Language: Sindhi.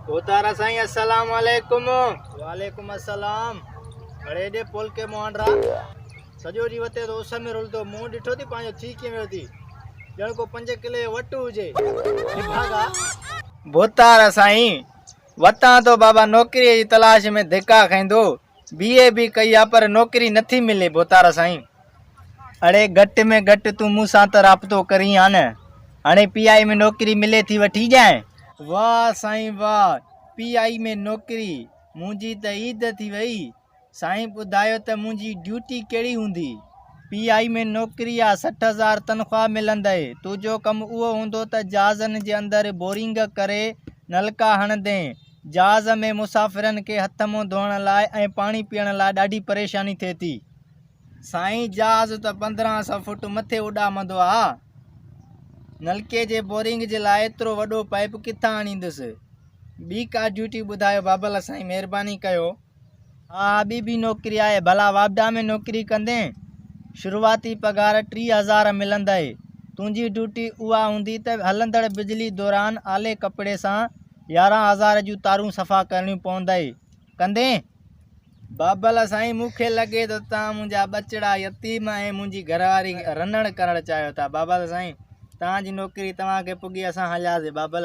اوتارا سائين السلام عليڪم وعليڪم السلام کڙي ڏي پل کي موهنڊرا سڄو ڏينهن وتي تو اس ۾ رلندو مون ڏٺو ٿي پنهنجو ٿي ڪيئن ويو ٿي ڄڻ ڪو پنج ڪلي جو وٽ هجي ڀاڳا بوتارا سائين وتان تو بابا نوڪريء جي تلاش ۾ ڌڪا کائيندو بي اي به ڪئي آ پر نوڪري نٿي ملي ڀوتارا سائين. اڙي گهٽ ۾ گهٽ تون مون سان ته رابطو ڪرين ها نه. هاڻي پي آئي ۾ نوڪري ملي ٿي وٺي ڄائين. واه سائين واه پي آئي ۾ نوڪري منهنجي ته عيد ٿي وئي. سائين ٻڌايو ته منهنجي ڊيوٽي ڪهڙي هوندي. پي آئي ۾ نوڪري آ سٺ هزار تنخواه ملندئي. تنهنجو ڪم اهو هوندو ته جهازن جي اندر بورنگ ڪري نلڪا هڻندين. جهاز ۾ مسافرن کي هٿ منهن ڌوئڻ لاء ۽ پاڻي پيئڻ لاء ڏاڍي پريشاني ٿئي ٿي. سائين جهاز ته پندرهن سئو فوٽ مٿي اڏامندو آ نلڪي جي بورنگ جي لاء ايترو وڏو پائيپ ڪٿان آڻيندس ٻي ڪا ڊيوٽي ٻڌايو بابل سائين مهرباني ڪيو. ها ٻي به نوڪري آهي ڀلا واپڊا ۾ نوڪري ڪندين شروعاتي پگهار ٽيهه هزار ملندئي تنهنجي ڊيوٽي اها هوندي ته هلندڙ بجلي دوران آلي ڪپڙي سان يارهن هزار جون تارون صفا ڪرڻيون پوندئي ڪندين؟ بابل سائين مون کي لڳي ٿو توهان منهنجا ٻچڙا يتيم ۽ منهنجي گهرواري رنڻ ڪرڻ چاهيو ٿا بابل سائين توهان جي نوڪري توهان کي پڳي اسان هلياسين بابل